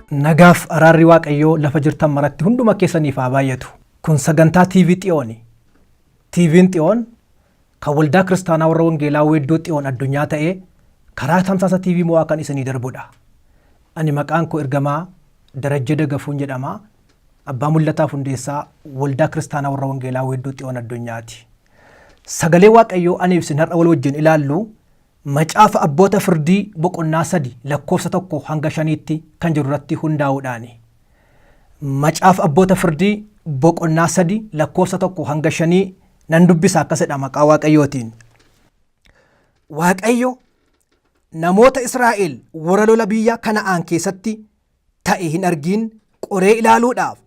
Nagaaf araarri Waaqayyoo lafa jirtan maratti hunduma keessaniif haa baay'atu. Kun sagantaa TV Xiyooni. TV'n Xiyoon kan Waldaa Kiristaanaa Warra Wangeelaa Weedduu Xiyoon Addunyaa ta'ee karaa tamsaasa TV Mo'aa kan isinii darbudha. Ani maqaan koo ergamaa Darajjee Dagafuun jedhama. Abbaa Mul'ataaf Hundeessaa Waldaa Kiristaanaa Warra Wangeelaa Weedduu Xiyoon Addunyaati. Sagalee Waaqayyoo aniif isin har'a wal wajjin ilaallu Macaafa Abboota Firdii boqonnaa 3 lakkoofsa 1-5tti kan jiru irratti hundaa'uudhaani. Macaafa Abboota Firdii boqonnaa 3 lakkoofsa 1-5 nan dubbisa akkas jedha maqaa Waaqayyootiin. Waaqayyo namoota Israa'el warra lola biyya Kana'aan keessatti ta'e hin argiin qoree ilaaluudhaaf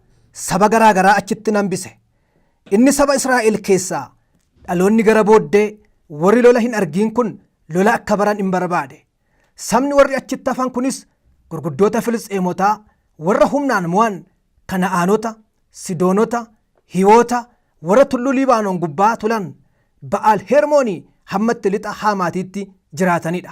saba garaa garaa achitti nan bise. Inni saba Israa'el keessaa dhaloonni gara booddee warri lola hin argiin kun lola akka baran in barbaade. Sabni warri achitti hafan kunis gurguddoota Filisxeemotaa warra humnaan mo'an Kana'aanota, Sidoonota, Hiwoota, warra tulluu Liibaanon gubbaa tulan, Ba'aal Hermoonii hammatti lixa Haamaatiitti jiraatanidha.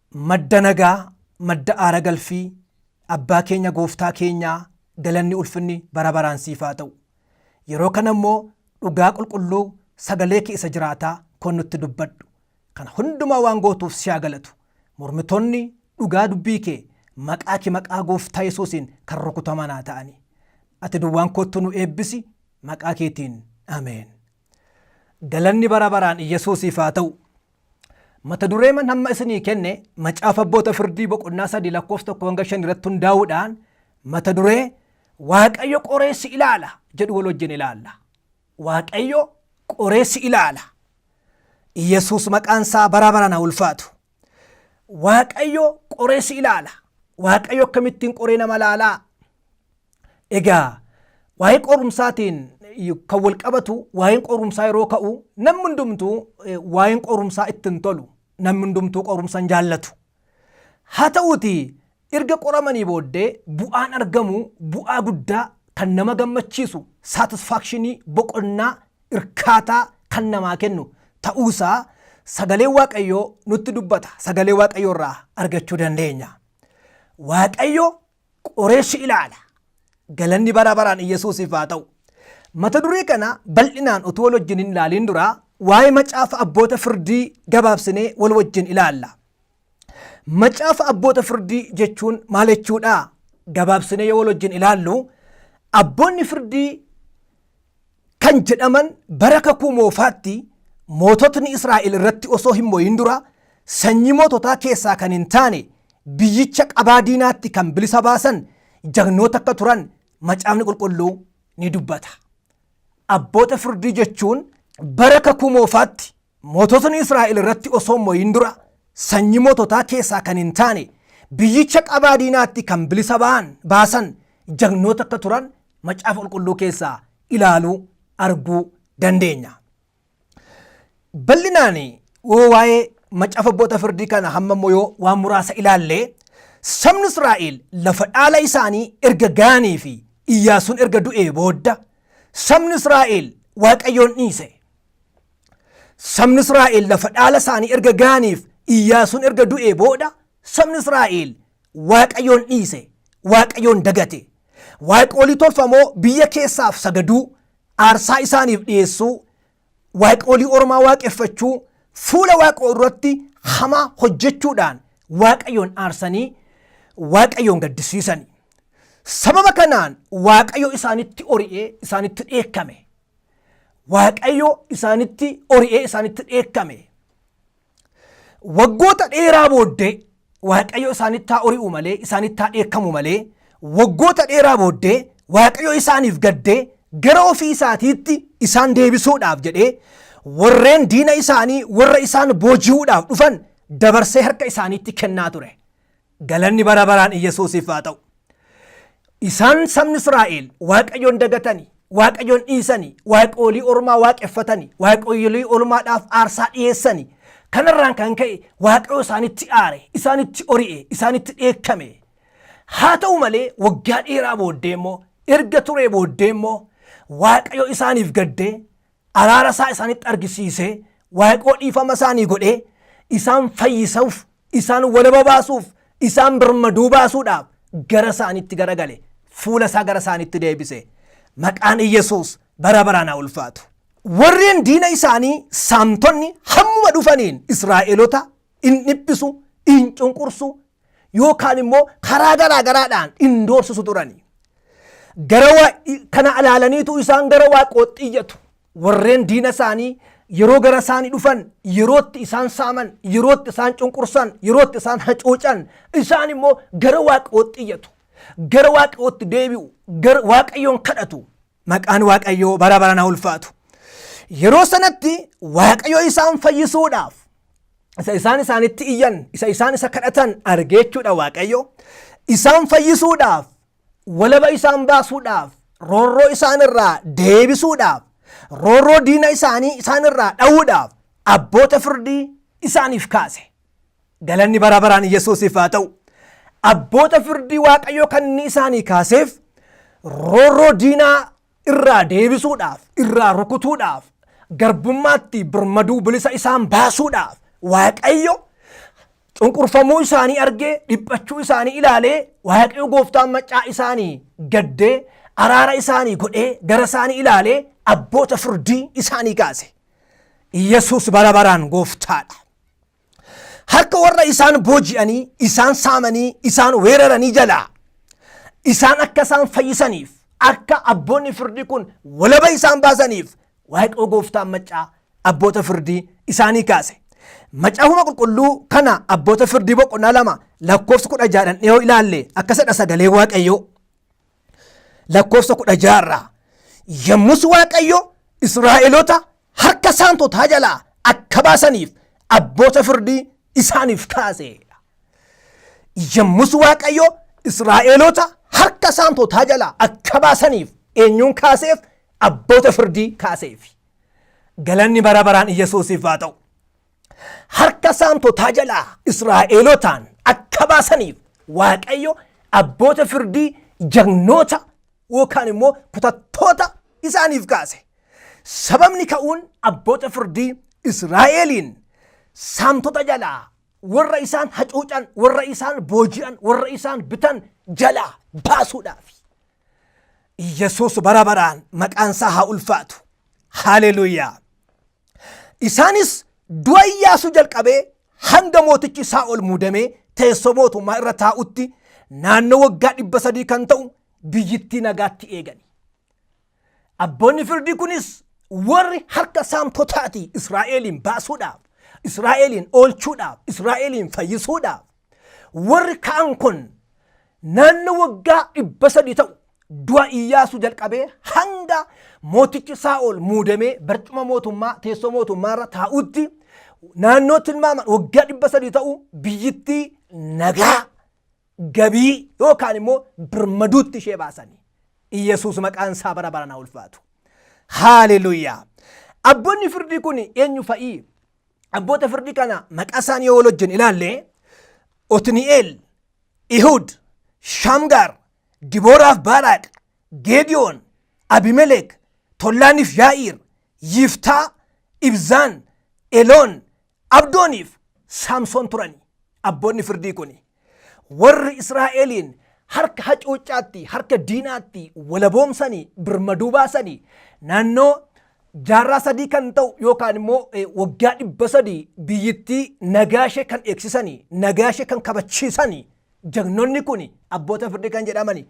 Madda nagaa, madda aara galfii, Abbaa keenya Gooftaa keenyaa galanni ulfinni bara baraan siif haa ta'u. Yeroo kana immoo dhugaa qulqulluu sagalee kee isa jiraataa kon nutti dubbadhu. Kana hundumaa waan gootuuf si haa galatu. Mormitoonni dhugaa dubbii kee maqaa kee maqaa Gooftaa Yesuusiin kan rukutaman haa ta'ani. Ati duwwaan koottu nu eebbisi maqaa keetiin. Ameen. Galanni bara baraan Iyyasuusiif haa ta'u. Mata dureeman hamma isinii kenne macaafa abboota firdii boqonnaa sadii lakkoofsa tokko hanga shan irratti hundaa'uudhaan mata duree Waaqayyo qoreessi ilaala jedhu wal wajjin ilaalla. Waaqayyo qoreessi ilaala. Iyyasuus maqaan isaa bara baraan haa ulfaatu. Waaqayyo qoreessi ilaala. Waaqayyo akkamittiin qoree nama ilaalaa? Egaa waa'ee qorumsaatiin kan wal qabatu waa'een qorumsaa yeroo ka'u namni hundumtuu waa'een qorumsaa itti hin tolu. Namni hundumtuu qorumsa hin jaallatu. Haa ta'uuti erga qoramanii booddee bu'aan argamu bu'aa guddaa kan nama gammachiisu saatisfaakshinii boqonnaa irkaataa kan namaa kennu ta'uusaa sagalee waaqayyoo nutti dubbata. Sagalee waaqayyoo irraa argachuu dandeenya. Waaqayyo qoree si ilaala. Galanni bara baraan Iyyasuusiif haa ta'u. Mata duree kana bal'inaan utuu wal wajjin hin ilaaliin dura waa'ee macaafa abboota firdii gabaabsinee wal wajjin ilaalla. Macaafa abboota firdii jechuun maal jechuudha? Gabaabsinee yoo wal wajjin ilaallu abboonni firdii kan jedhaman bara kakuu moofaatti moototni Israa'el irratti osoo hin mo'in dura sanyii moototaa keessaa kan hin taane biyyicha qabaa diinaatti kan bilisa baasan jagnoota akka turan macaafni qulqulluu ni dubbata. Abboota firdii jechuun bara kakuu moofaatti Moototni Israa'el irratti osoo hin mo'iin dura sanyii moototaa keessaa kan hin taane biyyicha qabaa diinaatti kan bilisa ba'an baasan jagnoota akka turan macaafa qulqulluu keessaa ilaaluu arguu dandeenya. Bal'inaan yoo waa'ee macaafa abboota firdii kana hamma immoo yoo waan muraasa ilaalle sabni Israa'el lafa dhaala isaanii erga ga'anii fi Iyyaasuun erga du'ee boodda sabni Israa'el Waaqayyoon dhiise. Sabni Israa'el lafa dhaala isaanii erga ga'aniif Iyyaasuun erga du'ee booda sabni Israa'el Waaqayyoon dhiise, Waaqayyoon dagate. Waaqolii tolfamoo biyya keessaaf sagaduu, aarsaa isaaniif dhiyeessuu, waaqolii ormaa waaqeffachuu, fuula waaqoo irratti hamaa hojjechuudhaan Waaqayyoon aarsanii Waaqayyoon gaddisiisani. Sababa kanaan Waaqayyo isaanitti ori'ee isaanitti dheekkame. Waaqayyo isaanitti ori'ee isaanitti dheekkame. Waggoota dheeraa booddee Waaqayyo isaanitti haa ori'u malee isaanitti haa dheekkamu malee waggoota dheeraa booddee Waaqayyo isaaniif gaddee gara ofii isaatiitti isaan deebisuudhaaf jedhee warreen diina isaanii warra isaan booji'uudhaaf dhufan dabarsee harka isaaniitti kennaa ture. Galanni bara baraan Iyyasuusiif haa ta'u. Isaan sabni Israa'el Waaqayyoon dagatanii, Waaqayyoon dhiisanii, waaqoolii ormaa waaqeffatanii, waaqoolii ormaadhaaf aarsaa dhiyeessanii, kanarraan kan ka'e Waaqayyo isaanitti aare, isaanitti ori'e, isaanitti dheekkame. Haa ta'u malee waggaa dheeraa booddee immoo erga turee booddee immoo Waaqayyo isaaniif gaddee araara isaa isaanitti argisiisee Waaqayyoo dhiifama isaanii godhee isaan fayyisuuf isaan walaba baasuuf isaan birmaduu baasuudhaaf gara isaanitti garagale fuula isaa gara isaanitti deebise maqaan Iyyasuus bara baraan haa ulfaatu. Warreen diina isaanii saamtonni hammuma dhufaniin Israa'elota in dhiphisu, in cunqursu yookaan immoo karaa garaa garaadhaan in doorsisu turani. Gara waa- kana ilaalaniitu isaan gara waaqootti iyyatu. Warreen diina isaanii yeroo gara isaanii dhufan, yerootti isaan saaman, yerootti isaan cunqursan, yerootti isaan hacuucan, isaan immoo gara waaqootti iyyatu. Gara waaqootti deebi'u, gara waaqayyoon kadhatu. Maqaan Waaqayyoo bara baraan haa ulfaatu. Yeroo sanatti Waaqayyo isaan fayyisuudhaaf isa isaan isaanitti iyyan, isa isaan isa kadhatan argeechuudha Waaqayyo. Isaan fayyisuudhaaf, walaba isaan baasuudhaaf, roorroo isaan irraa deebisuudhaaf, roorroo diina isaanii isaan irraa dha'uudhaaf abboota firdii isaaniif kaase. Galanni bara baraan Yesuusiif haa ta'u. Abboota firdii Waaqayyoo kanni isaanii kaaseef roorroo diinaa irraa deebisuudhaaf, irraa rukutuudhaaf, garbummaatti birmaduu bilisa isaan baasuudhaaf Waaqayyo cunqurfamuu isaanii argee dhiphachuu isaanii ilaalee Waaqayyo gooftaan maccaa isaanii gaddee araara isaanii godhee gara isaanii ilaalee abboota firdii isaanii kaase. Yesuus bara baraan gooftaadha. harka warra isaan booji'anii isaan saamanii isaan weeraranii jalaa isaan akka isaan fayyisaniif akka abboonni firdii kun walaba isaan baasaniif waaqoo gooftaan maccaa abboota firdii isaanii kaase. Macaafuma qulqulluu kana abboota firdii boqonnaa lama lakkoofsa kudha jaadhan dhiyoo ilaalle akkasidha sagalee waaqayyoo. lakkoofsa kudha jaarraa yommus waaqayyo israa'eloota harka saamtotaa jalaa akka baasaniif abboota firdii isaaniif kaase yommus waaqayyo israa'eloota harka saamtotaa jalaa akka baasaniif eenyuun kaaseef abboota firdii kaaseef galanni bara baraan iyyasuusiif haa ta'u harka saamtotaa jalaa Israa'eelotaan akka baasaniif Waaqayyo abboota firdii jagnoota yookaan immoo kutattoota isaaniif kaase. Sababni ka'uun abboota firdii Israa'eeliin saamtota jalaa warra isaan hacuucan, warra isaan booji'an, warra isaan bitan jalaa baasuudhaaf. Yesuus bara baraan maqaan isaa haa ulfaatu. Haaleluuyaa! Isaanis du'a Iyyaasuu jalqabee hanga mootichi Saa'ol muudamee teessoo mootummaa irra taa'utti naannoo waggaa dhibba sadii kan ta'u biyyittii nagaatti eegani. Abboonni firdii kunis warri harka saamtotaatii Israa'eliin baasuudhaaf, Israa'eliin oolchuudhaaf, Israa'eliin fayyisuudhaaf Warri ka'an kun naannoo waggaa dhibba sadii ta'u du'a Iyyaasuu jalqabee hanga mootichi Saa'ol muudamee barcuma mootummaa teessoo mootummaa irra taa'utti naannoo tilmaaman waggaa dhibba sadii ta'u biyyittii nagaa gabii yookaan immoo birmaduutti ishee baasanii Iyyasuus maqaan isaa bara baraan ulfaatu. Haaleluuyaa! Abboonni firdii kun eenyu fa'ii? abboota firdii kana maqaa isaanii yoo wal hojjenne ilaalle Otni'eel, Ihud, Shamgaar, Dibooraaf Baaraaq, Geediyoon, Abimelek, Tollaaniif Yaa'iir, Yiftaa, Ibzaan, Eloon, Abdooniif Saamsoon turani. Abboonni firdii kuni Warri Israa'eliin harka hacuuccaatti, harka diinaatti walaboomsanii, birmaduu baasanii naannoo jaarraa sadii kan ta'u yookaan immoo waggaa dhibba sadii biyyittii nagaa ishee kan eegsisanii, nagaa ishee kan kabachiisanii jagnonni kun abboota firdii kan jedhamani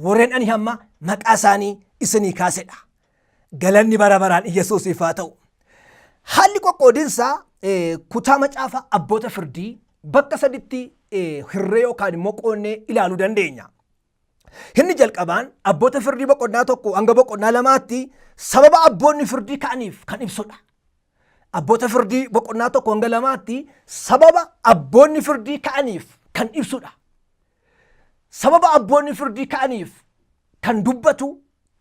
warreen ani hamma maqaa isaanii isinii kaasedha. Galanni bara baraan Iyyasuusiif haa ta'u. Haalli qoqqoodinsa eh, kutaa macaafa abboota firdii bakka saditti eh, hirree yookaan immoo qoonnee ilaaluu dandeenya. Inni jalqabaan abboota firdii boqonnaa tokko hanga boqonnaa lamaatti sababa abboonni firdii ka'aniif kan ibsudha. Abboota firdii boqonnaa tokko hanga lamaatti sababa abboonni firdii ka'aniif kan ibsudha. sababa abboonni firdii ka'aniif kan dubbatu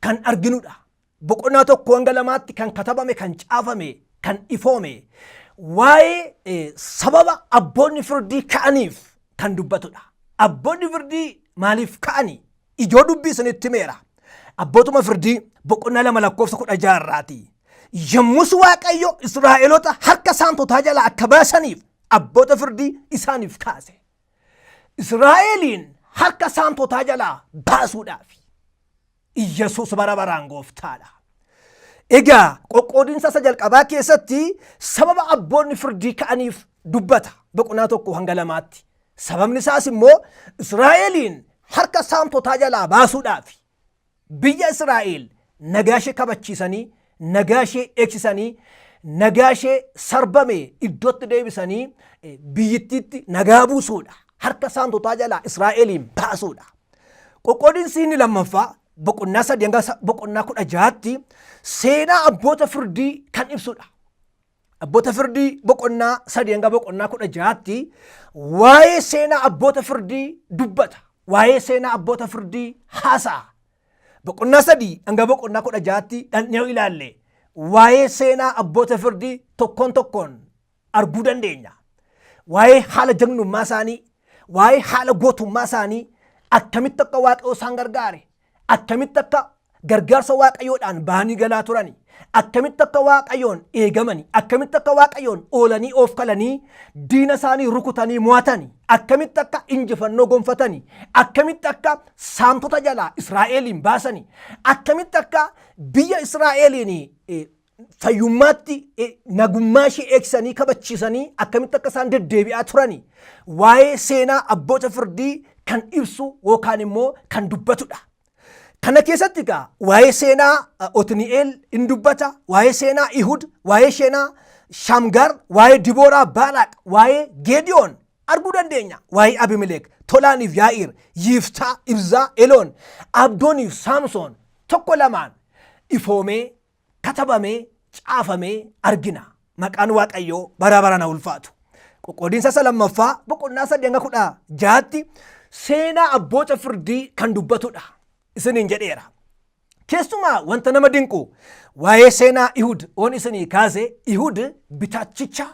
kan arginudha. Boqonnaa tokko hanga lamaatti kan katabame, kan caafame, kan ifoome waa'ee sababa abboonni firdii ka'aniif kan dubbatudha. Abboonni firdii maaliif ka'ani? Ijoo dubbii isinitti himeera. Abbootuma firdii boqonnaa lama lakkoofsa kudha jaha irraati. Yommus Waaqayyo Israa'eloota harka saamtotaa jalaa akka baasaniif abboota firdii isaaniif kaase. Israa'eliin harka saamtotaa jalaa baasuudhaaf Iyyasuus bara baraan gooftaadha. Egaa qoqqoodinsa isa jalqabaa keessatti sababa abboonni firdii ka'aniif dubbata boqonnaa tokko hanga lamaatti. Sababni isaas immoo Israa'eliin harka saamtotaa jalaa baasuudhaaf Biyya Israa'el nagaa ishee kabachiisanii, nagaa ishee eegsisanii, nagaa ishee sarbame iddootti deebisanii eh, biyyittiitti nagaa buusuudha. Harka saamtotaa jalaa Israa'eliin baasuudha. Qoqqoodinsi inni lammaffaa boqonnaa sadii hanga sa- boqonnaa kudha jahaatti seenaa abboota firdii kan ibsudha. Abboota firdii boqonnaa sadii hanga boqonnaa kudha jahaatti waa'ee seenaa abboota firdii dubbata. Waa'ee seenaa abboota firdii haasa'a. Boqonnaa sadii hanga boqonnaa kudha jahaatti dhandhee yoo ilaalle waa'ee seenaa abboota firdii tokkoon tokkoon arguu dandeenya. Waa'ee haala jagnummaa isaanii, waa'ee haala gootummaa isaanii, akkamitti akka waaqayyo isaan gargaare, Attamitti akka gargaarsa waaqayyoodhaan ba'anii galaa turani. Attamitti akka waaqayyoon eegamani. Akkamitti akka waaqayyoon oolanii oofkalanii diina isaanii rukutanii mo'atani. Akkamitti akka injifannoo gonfatani. Akkamitti akka saamtota jalaa Israa'eeliin baasani. Akkamitti akka biyya Israa'eeliin fayyummaatti eh, nagummaa ishee eegsanii kabachiisanii akkamitti akka isaan deddeebi'aa turani waa'ee seenaa abboota firdii kan ibsu yookaan immoo kan dubbatudha. Kana keessatti egaa waa'ee seenaa eh, Otni'eel in dubbata, waa'ee seenaa Ihud, waa'ee seenaa Shamgar, waa'ee Dibooraa Baalaaq, waa'ee Geediyoon arguu dandeenya. Waa'ee Abimileek, Tolaaniif Yaa'iir, Yiiftaa, Ibzaa, Eloon, Abdooniif Saamsoon tokko lamaan ifoomee katabamee, caafamee argina. Maqaan Waaqayyoo bara baraan haa ulfaatu. Qoqqoodinsa isa lammaffaa boqonnaa sadii hanga kudha jaatti seenaa abboota firdii kan dubbatudha. Isiniin jedheera. Keessumaa wanta nama dinqu waa'ee seenaa Ihud oon isinii kaase Ihud bitaachicha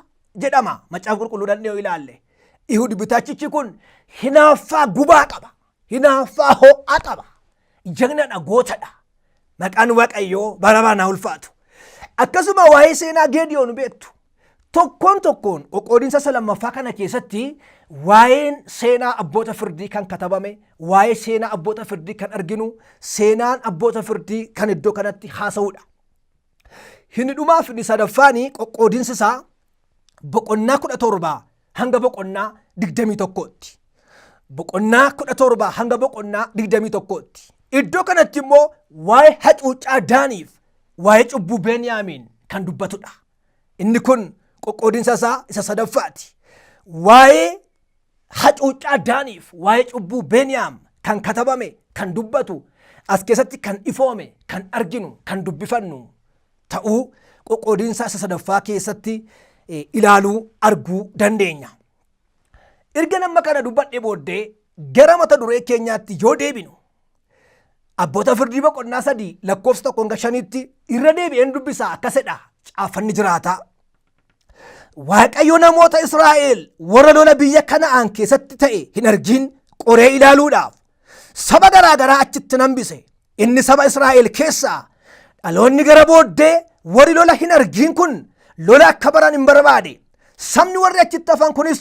jedhama. Macaafa qulqulluu dhandhee yoo ilaalle. Ihud bitaachichi kun hinaaffaa gubaa qaba. Hinaaffaa ho'aa qaba. Jagnadha, gootadha. Maqaan Waaqayyoo bara baraan haa ulfaatu. Akkasuma waa'ee seenaa Geediyoon beektu. Tokkoon tokkoon qoqqoodinsa isa lammaffaa kana keessatti waa'een seenaa abboota firdii kan katabame, waa'ee seenaa abboota firdii kan arginu, seenaan abboota firdii kan iddoo kanatti haasa'udha. Hini dhumaa fi sadaffaani qoqqoodinsi isaa boqonnaa kudha torba hanga boqonnaa digdamii tokkootti. Boqonnaa kudha torba hanga boqonnaa digdamii tokkootti. Iddoo kanatti immoo waa'ee hacuuccaa Daaniif waa'ee cubbuu Beniyaamiin kan dubbatudha. Inni kun qoqqoodinsa isaa isa sadaffaati. Waa'ee hacuuccaa Daaniif waa'ee cubbuu Beniyaam kan katabame, kan dubbatu, as keessatti kan ifoome, kan arginu, kan dubbifannu ta'uu qoqqoodinsa isa sadaffaa keessatti ilaaluu, arguu dandeenya. Erga nama kana dubbadhe booddee gara mata duree keenyaatti yoo deebinu abboota firdii boqonnaa sadii lakkoofsa tokko hanga shaniitti irra deebi'een dubbisaa akkasidha caaffanni jiraataa Waaqayyo namoota Israa'el warra lola biyya kana'aan keessatti ta'e hin argin qoree ilaaluudhaaf saba garaa garaa achitti nan hambise. Inni saba Israa'el keessaa dhaloonni gara booddee warri lola hin argin kun lola akka baran hin barbaade. Sabni warri achitti hafan kunis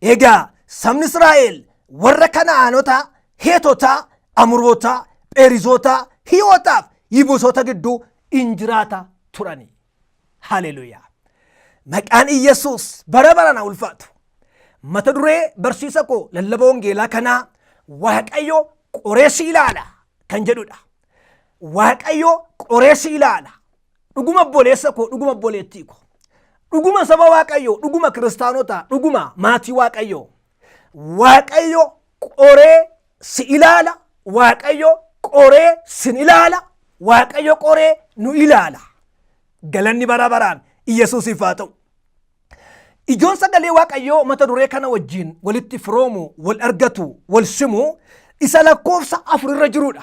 Egaa sabni Israa'el warra Kana'aanotaa, Heetotaa, Amurootaa, Pheerizootaa, Hiiwotaaf Yibusoota gidduu in jiraata turani. Haleluyaa! Maqaan Iyyasuus bara baraan haa ulfaatu. Mata duree barsiisa koo lallaba wangeelaa kanaa Waaqayyo qoree si ilaala kan jedhudha. Waaqayyo qoree si ilaala. dhuguma obboleessa koo dhuguma obboleettii koo dhuguma saba waaqayyoo dhuguma kiristaanotaa dhuguma maatii waaqayyoo waaqayyo qoree si ilaala waaqayyo qoree sin ilaala waaqayyo qoree nu ilaala galanni bara baraan iyyasuusiif haa ta'u ijoon sagalee waaqayyoo mata duree kana wajjin walitti firoomu wal argatu wal simu isa lakkoofsa afur irra jirudha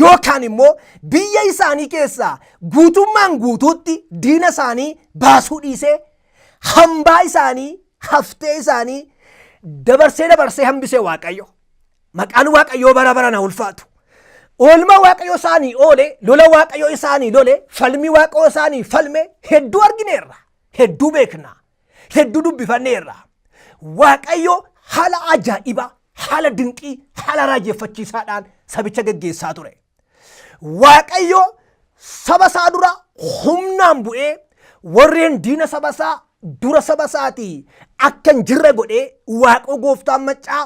yookaan immoo biyya isaanii keessaa guutummaan guutuutti diina isaanii baasuu dhiisee hambaa isaanii haftee isaanii dabarsee dabarsee hambisee waaqayyo maqaan waaqayyoo bara bara na ulfaatu oolmaa waaqayyo isaanii oole lola waaqayyo isaanii lole falmii waaqayyo isaanii falme hedduu argineerra hedduu beekna hedduu dubbifanneerra. Waaqayyo haala ajaa'ibaa, haala dinqii, haala raajeffachiisaadhaan sabicha geggeessaa ture. Waaqayyo saba isaa dura humnaan bu'ee warreen diina saba isaa dura saba isaatii akka hin jirre godhee waaqoo gooftaan maccaa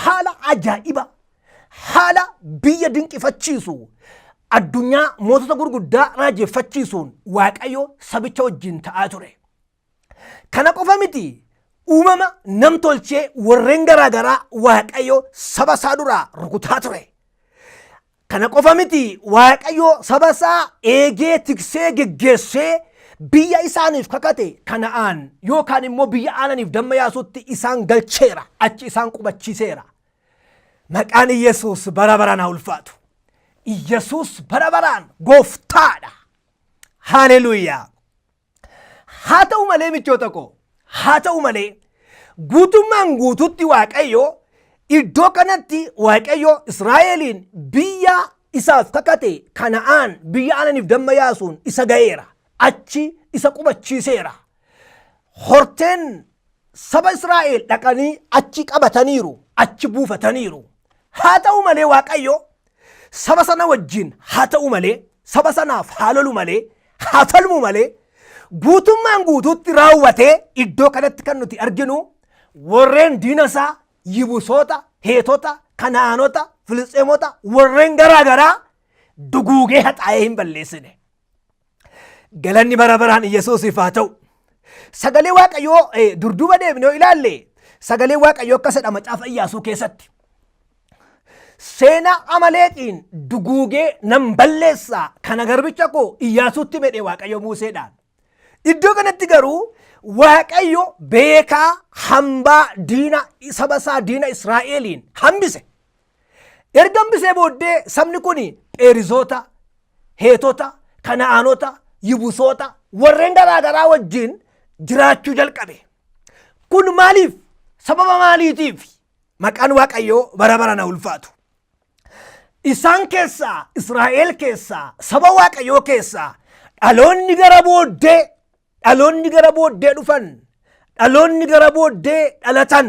haala ajaa'iba haala biyya dinqifachiisu addunyaa mootota gurguddaa raajeffachiisuun waaqayyo sabicha wajjin ta'aa ture. Kana qofa miti uumama nam tolchee warreen garaa garaa waaqayyo saba isaa duraa rukutaa ture. Kana qofa miti waaqayyo saba isaa eegee tiksee geggeessee biyya isaaniif kakate kana'aan yookaan immoo biyya aananiif damma yaasutti isaan galcheera achi isaan qubachiiseera. Maqaan Iyyasuus bara baraan haa ulfaatu. Iyyasuus bara baraan gooftaadha. Haaleluuyaa! Haa ta'u malee michoota koo, haa ta'u malee guutummaan guututti Waaqayyo iddoo kanatti Waaqayyo Israa'eliin biyya isaaf kakate kana'aan biyya aananiif damma yaasuun isa ga'eera. Achi isa qubachiiseera. Horteen saba Israa'el dhaqanii achi qabataniiru, achi buufataniiru. Haa ta'u malee Waaqayyo saba sana wajjin haa ta'u malee, saba sanaaf haa lolu malee, haa falmu malee, guutummaan guutuutti raawwatee iddoo kanatti kan nuti arginu warreen diina isaa yibusoota, heetota, kanaanota, filisxeemota warreen garaa garaa duguugee haxaa'ee hin balleessine. Galanni bara baraan Iyyasuusiif haa ta'u. Sagalee Waaqayyoo eh, durduuba deebinee yoo ilaalle sagalee Waaqayyoo akka jedha macaafa Iyyaasuu keessatti. Seenaa amaleeqiin duguugee nan balleessaa kana garbicha koo Iyyaasuutti medhee Waaqayyo Muuseedhaan. Iddoo kanatti garuu Waaqayyo beekaa hambaa diina saba isaa diina Israa'eliin hambise. Erga hambisee booddee sabni kun Pheerizoota, Heetota, Kana'aanota, Yibusoota warreen garaa garaa wajjin jiraachuu jalqabe. Kun maaliif? Sababa maaliitiif? Maqaan Waaqayyoo bara barana ulfaatu. Isaan keessaa, Israa'el keessaa, saba Waaqayyoo keessaa dhaloonni gara booddee, dhaloonni gara booddee dhufan, dhaloonni gara booddee dhalatan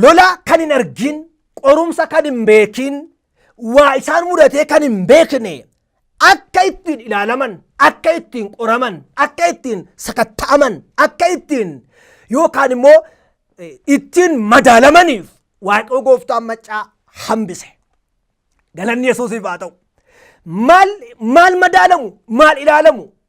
Lola kan hin argin, qorumsa kan hin beekin, waa isaan mudatee kan hin beekne akka ittiin ilaalaman, akka ittiin qoraman, akka ittiin sakatta'aman, akka ittiin yookaan immoo ittiin madaalamaniif Waaqayoo gooftaan maccaa hambise. Galanni Yesuusiif haa ta'u. Maal, maal madaalamu, maal ilaalamu,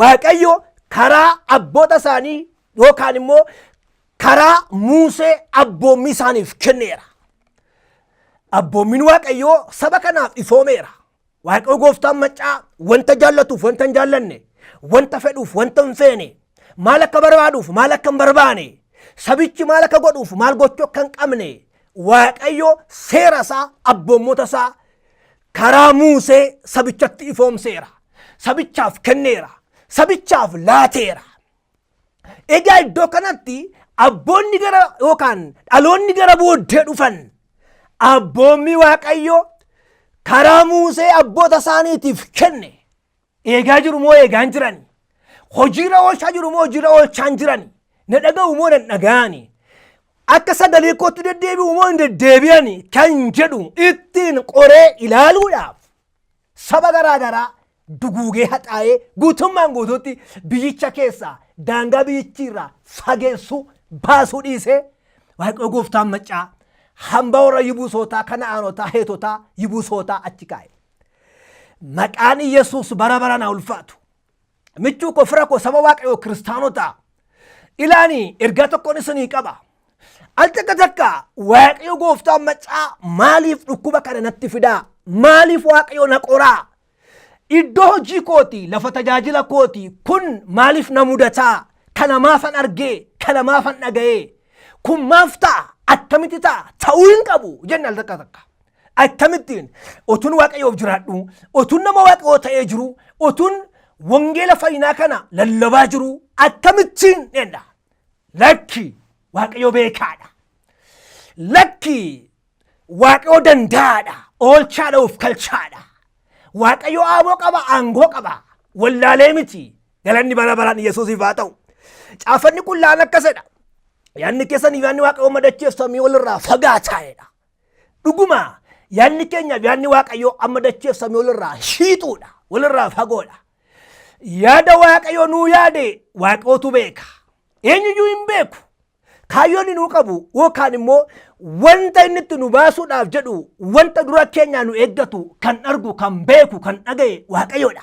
Waaqayyo karaa abboota isaanii yookaan immoo karaa Muusee abboommii isaaniif kenneera. Abboommiin Waaqayyoo saba kanaaf ifoomeera. Waaqayyo gooftaan maccaa wanta jaallatuuf wanta hin jaallanne, wanta fedhuuf wanta hin feene, maal akka barbaaduuf maal akka hin barbaane, sabichi maal akka godhuuf maal gochuu akka hin qabne, Waaqayyo seera isaa abboommota isaa karaa Muusee sabichatti ifoomseera. Sabichaaf kenneera. Sabichaaf laateera. Egaa iddoo kanatti abboonni gara yookaan dhaloonni gara booddee dhufan abboommii Waaqayyoo karaa Muusee abboota isaaniitiif kenne Eegaa jiru moo eegaa hin jirani? Hojiirra oolchaa jiru moo hojiirra oolchaa hin jirani? Na dhaga'u moo nan dhaga'ani? Akka sagalee kootti deddeebi'u moo hin deddeebi'ani? Kan jedhu ittiin qoree ilaaluudhaaf saba garaa garaa duguugee haxaa'ee guutummaan guutuutti biyyicha keessaa daangaa biyyichiirraa fageessuu baasuu dhiisee waaqayoo gooftaan maccaa hambaa warra yibuusootaa kana'aanotaa heetotaa yibuusootaa achi kaa'e. Maqaan Yesuus bara baraan haa ulfaatu. Michuu koo fira koo saba waaqayyoo kiristaanota ilaani ergaa tokkoon isinii qaba. Al takka takka waaqayyo gooftaan macaa maaliif dhukkuba kana natti fidaa? Maaliif waaqayyo na qoraa? Iddoo hojii kooti lafa tajaajila kooti kun maaliif na mudataa? Kana maafan argee? Kana maafan dhaga'ee? Kun maaf ta'a? Akkamitti ta'a? Ta'uu hin qabu jenna al takka takka. Akkamittiin otuun waaqayyoof jiraadhu, otuun nama waaqayyoo ta'ee jiru, otuun wangeela fayyinaa kana lallabaa jiru akkamittiin dheedha. Lakki waaqayyoo beekaadha. Lakki waaqayyoo danda'aadha. Oolchaadha of kalchaadha. Waaqayyoo aaboo qaba, aangoo qaba. Wallaalee miti. Galanni bara baraan Yesuusiif haa ta'u. Caafanni qullaa'aan akkasidha. Yaanni keessan yaanni waaqayyoo madacheef samii walirraa fagaataa'edha. Dhuguma yaadni keenyaaf yaadni Waaqayyoo amma dacheef samii walirraa shiixuudha. Walirraa fagoodha. Yaada Waaqayyoo nuu yaade Waaqayyootu beeka. Eenyuyyuu hin beeku. Kaayyoon inni nuu qabu yookaan immoo wanta inni itti nu baasuudhaaf jedhu wanta dura keenyaa nu eeggatu kan argu kan beeku kan dhaga'e Waaqayyoodha.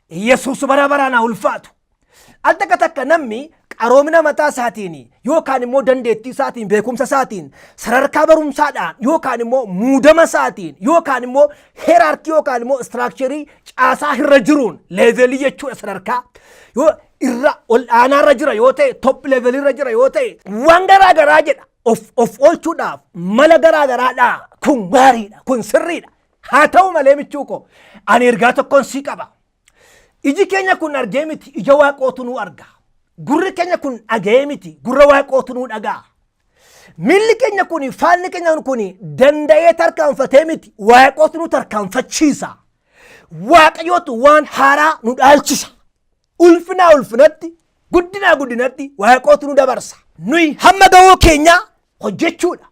Yesuus bara baraan haa ulfaatu. Al takka takka namni qaroomina mataa isaatiin yookaan immoo dandeettii isaatiin beekumsa isaatiin sadarkaa barumsaadhaan yookaan immoo muudama isaatiin yookaan immoo heeraarkii yookaan immoo istiraakcharii caasaa irra jiruun leevelii jechuudha sadarkaa yoo irra ol aanaa irra jira yoo ta'e top level irra jira yoo ta'e waan garaa garaa jedha of of oolchuudhaaf mala garaa garaadhaa kun gaariidha kun sirriidha Haa ta'u malee michuu koo ani ergaa tokkoon sii qaba. Iji keenya kun argee miti ija waaqootu nuu arga. Gurri keenya kun dhaga'ee miti gurra waaqootu nuu dhaga'a. Miilli keenya kun faanni keenya kun danda'ee tarkaanfatee miti waaqootu nu tarkaanfachiisa. Waaqayyootu waan haaraa nu dhaalchisa. Ulfinaa ulfinatti, guddinaa guddinatti waaqootu nu dabarsa. Nuyi hamma gahoo keenyaa hojjechuudha.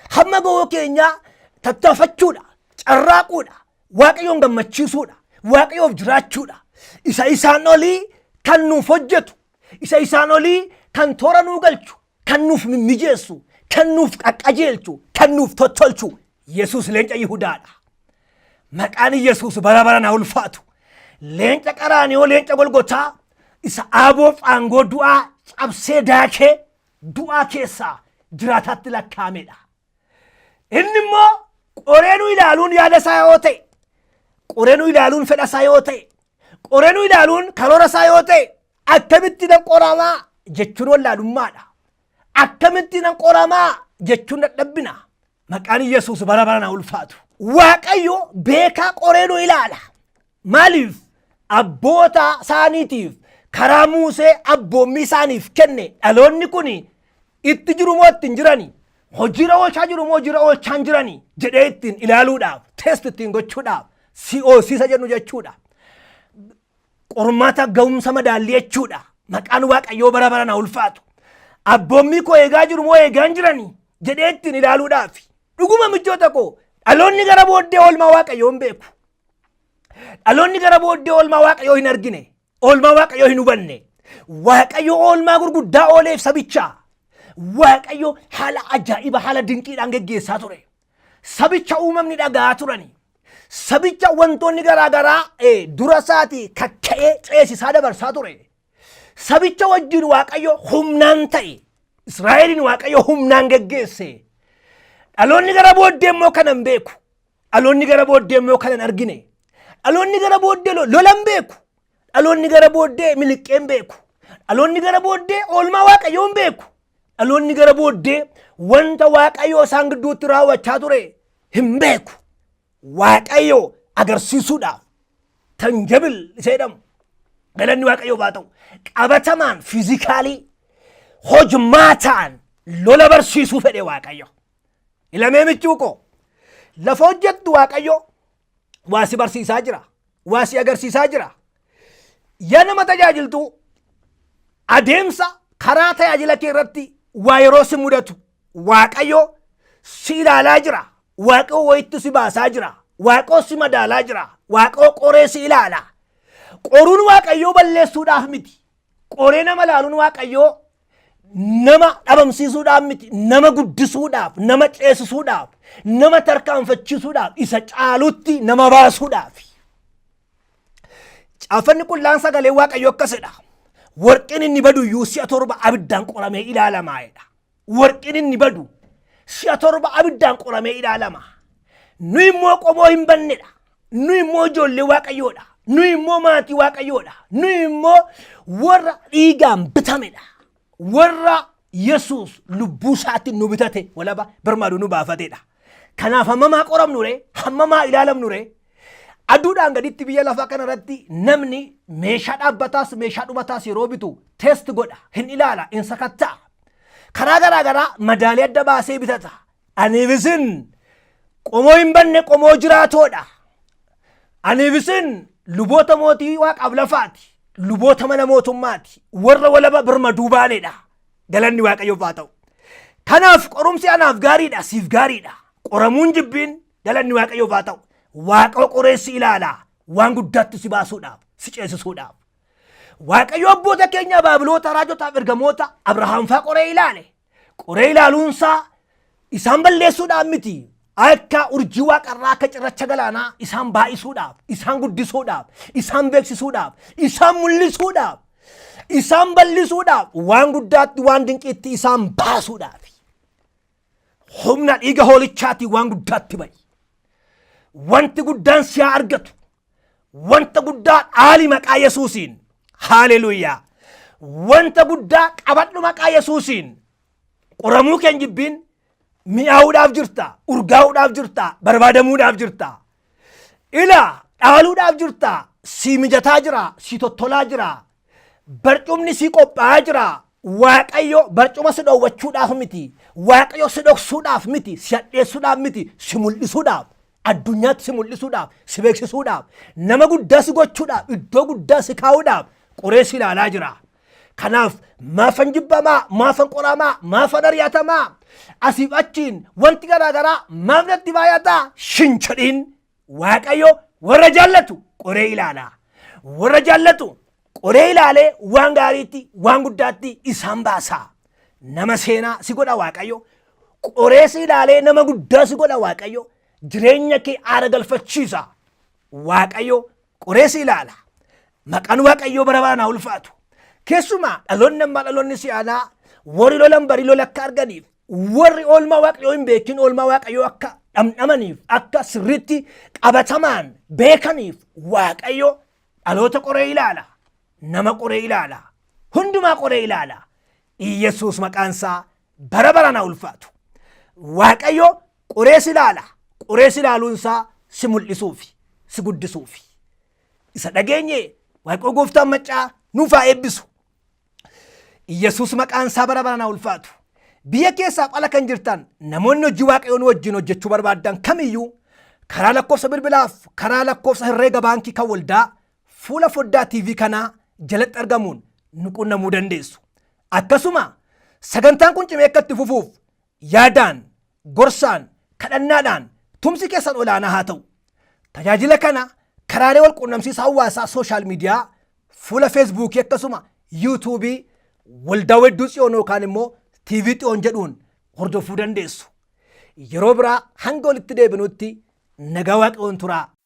Hamma gahoo keenyaa tattaafachuudha. Carraaquudha. Waaqayyoon gammachiisuudha. Waaqayyoof jiraachuudha. Isa isaan olii kan nuuf hojjetu. Isa isaan olii kan toora nuu galchu. kan nuuf mimmijeessu, kan nuuf qaqqajeelchu, kan nuuf tottolchu Yesuus leenca Yihudaadha. Maqaan Yesuus bara baraan haa ulfaatu. Leenca qaraaniyoo leenca golgotaa isa aaboof aangoo du'aa cabsee daakee du'aa keessaa jiraataatti lakkaa'amedha. Inni immoo qoree nu ilaaluun yaada isaa yoo ta'e, qoree nu ilaaluun fedha isaa yoo ta'e, qoree nu ilaaluun karoora isaa yoo ta'e, Akkamitti nan qoramaa jechuun wallaalummaadha. Akkamitti nan qoramaa jechuun dadhabbina. Maqaan Yesuus bara bara na ulfaatu. Waaqayyo beekaa qoree nu ilaala. Maaliif? Abboota isaaniitiif karaa Muusee abboommii isaaniif kenne dhaloonni kun itti jiru moo itti hin jirani? Hojiirra oolchaa jiru moo hojiirra oolchaa hin jirani? jedhee ittiin ilaaluudhaaf, test ittiin gochuudhaaf, COC isa jennu jechuudha. Qormaata ga'umsa madaallii jechuudha. Maqaan Waaqayyoo bara baraan haa ulfaatu. Abboommii koo eegaa jiru moo eegaa hin jirani jedhee ittiin ilaaluudhaaf. Dhuguma michoota koo dhaloonni gara booddee oolmaa Waaqayyoo hin beeku. Dhaloonni gara booddee oolmaa Waaqayyoo hin argine. Oolmaa Waaqayyoo hin hubanne. Waaqayyo oolmaa gurguddaa ooleef sabichaa. Waaqayyo haala ajaa'iba haala dinqiidhaan geggeessaa ture. sabicha uumamni dhaga'aa turani. Sabicha wantoonni garaa garaa dura isaatii kakka'ee ceesisaa dabarsaa ture. Sabicha wajjin Waaqayyo humnaan ta'e. Israa'eliin Waaqayyo humnaan geggeesse. Dhaloonni gara booddee immoo kana hin beeku. Dhaloonni gara booddee immoo kana hin argine. Dhaloonni gara booddee lola hin beeku. Dhaloonni gara booddee miliqqeen beeku. Dhaloonni gara booddee oolmaa waaqayyoon beeku. Dhaloonni gara booddee wanta waaqayyoo isaan gidduutti raawwachaa ture hin beeku. Waaqayyoo agarsiisuudhaaf tanjabil isa jedhamu galanni waaqayyoof haa ta'u qabatamaan fiizikaalii hojmaataan lola barsiisuu fedhe waaqayyo. Ilamee michuu koo lafa hojjettu waaqayyo waa si barsiisaa jira waa si agarsiisaa jira yaa nama tajaajiltu adeemsa karaa tajaajila kee irratti waa yeroo si mudatu waaqayyo si ilaalaa jira waaqoo wayitti si baasaa jira waaqoo si madaalaa jira waaqoo qoree si ilaala qoruun waaqayyoo balleessuudhaaf miti Qoree nama laaluun waaqayyoo nama dhabamsiisuudhaaf miti nama guddisuudhaaf nama ceesisuudhaaf nama tarkaanfachiisuudhaaf isa caalutti nama baasuudhaaf. Caaffanni qullaan sagalee waaqayyoo akkasidha. Warqeen inni badu iyyuu si'a torba abiddaan qoramee ilaalamaa'edha. Warqin inni badu si'a torba abiddaan qoramee ilaalama. Nu immoo qomoo hin bannedha. Nu immoo ijoollee waaqayyoodha. Nu immoo maatii waaqayyoodha. Nu immoo warra dhiigaan bitamedha. Warra Yesuus lubbuu isaatti nu bitate walaba birmaaduu nu baafatedha. Kanaaf hammamaa qoramnu ree? Hammamaa ilaalamnu ree? Aduudhaan gaditti biyya lafaa kanarratti namni meeshaa dhaabbataas meeshaa dhumataas yeroo bitu test godha, hin ilaala, hin sakatta'a. Karaa garaa garaa madaalee adda baasee bitata. Aniif isin qomoo hin banne qomoo jiraatoodha. Aniif isin luboota mootii waaqaaf lafaati. Luboota mana mootummaati. Warra walaba birmaduu baaneedha. Galanni waaqayyoof haa ta'u. Kanaaf qorumsi anaaf gaariidha siif gaariidha. Qoramuun jibbiin galanni waaqayyoof haa ta'u. Waaqa qoreessi ilaala. Waan guddaatti si baasuudhaaf si ceesisuudhaaf. Waaqayyo abboota keenya baabiloota raajotaaf ergamoota Abrahaam faa qoree ilaale. Qoree ilaaluunsaa isaan balleessuudhaan miti. Akka urjii waaqarraa akka cirracha galaanaa isaan baay'isuudhaaf, isaan guddisuudhaaf, isaan beeksisuudhaaf, isaan mul'isuudhaaf, isaan bal'isuudhaaf, waan guddaatti waan dinqiitti isaan baasuudhaaf. Humna dhiiga hoolichaatiin waan guddaatti ba'i. Wanti guddaan si haa argatu. Wanta guddaa dhaali maqaa Yesuusiin. Haaleluuyaa. Wanta guddaa qabadhu maqaa Yesuusiin. Qoramuu keen jibbiin mi'aawuudhaaf jirta, urgaa'uudhaaf jirta, barbaadamuudhaaf jirta. Ila dhaaluudhaaf jirta, si mijataa jira, si tottolaa jira, barcumni si qophaa'aa jira. Waaqayyo barcuma si dhoowwachuudhaaf miti. Waaqayyo si dhoksuudhaaf miti. Si hadheessuudhaaf miti. Si mul'isuudhaaf. Addunyaatti si mul'isuudhaaf. Si beeksisuudhaaf. Nama guddaa si gochuudhaaf. Iddoo guddaa si kaa'uudhaaf. Qoree si ilaalaa jira. Kanaaf maafan jibbamaa, maafan qoramaa, maafan ari'atamaa, asiif achiin wanti garaagaraa maaf natti baay'ataa shin jedhiin Waaqayyo warra jaallatu qoree ilaala. Warra jaallatu qoree ilaalee waan gaariitti waan guddaatti isaan baasa. Nama seenaa si godha Waaqayyo. Qoree si ilaalee nama guddaa si godha Waaqayyo. Jireenya kee aara galfachiisa. Waaqayyo qoree si ilaala. Maqaan Waaqayyoo bara baraan haa ulfaatu. Keessumaa dhaloonni ammaa dhaloonni si'aanaa warri lolan barii lola akka arganiif warri oolmaa waaqayyoo hin beekin oolmaa waaqayyoo akka dhamdhamaniif akka sirriitti qabatamaan beekaniif waaqayyo dhaloota qoree ilaala nama qoree ilaala hundumaa qoree ilaala iyyesuus maqaansaa bara baraan haa ulfaatu waaqayyo qorees ilaala qorees ilaaluunsaa si mul'isuufi si guddisuufi isa dhageenye waaqayyo gooftaan maccaa nuuf haa eebbisu Yesuus maqaan isaa bara baraan haa ulfaatu. Biyya keessaaf ala kan jirtan namoonni hojii waaqayyoon wajjin hojjechuu barbaaddan kamiyyuu karaa lakkoofsa bilbilaaf karaa lakkoofsa herreega baankii kan waldaa fuula foddaa TV kanaa jalatti argamuun nu qunnamuu dandeessu. Akkasuma sagantaan kun cimee akka itti fufuuf Yaadaan, gorsaan, kadhannaadhaan tumsi keessan olaanaa haa ta'u. Tajaajila kana karaalee walquunnamsiisa hawaasaa sooshaal miidiyaa, fuula feesbuukii akkasuma yuutuubii Waldaa Wedduu Tsiyoon yookaan immoo TV Xiyoon jedhuun hordofuu dandeessu. Yeroo biraa hanga walitti deebinutti nagaa Waaqayyoon turaa.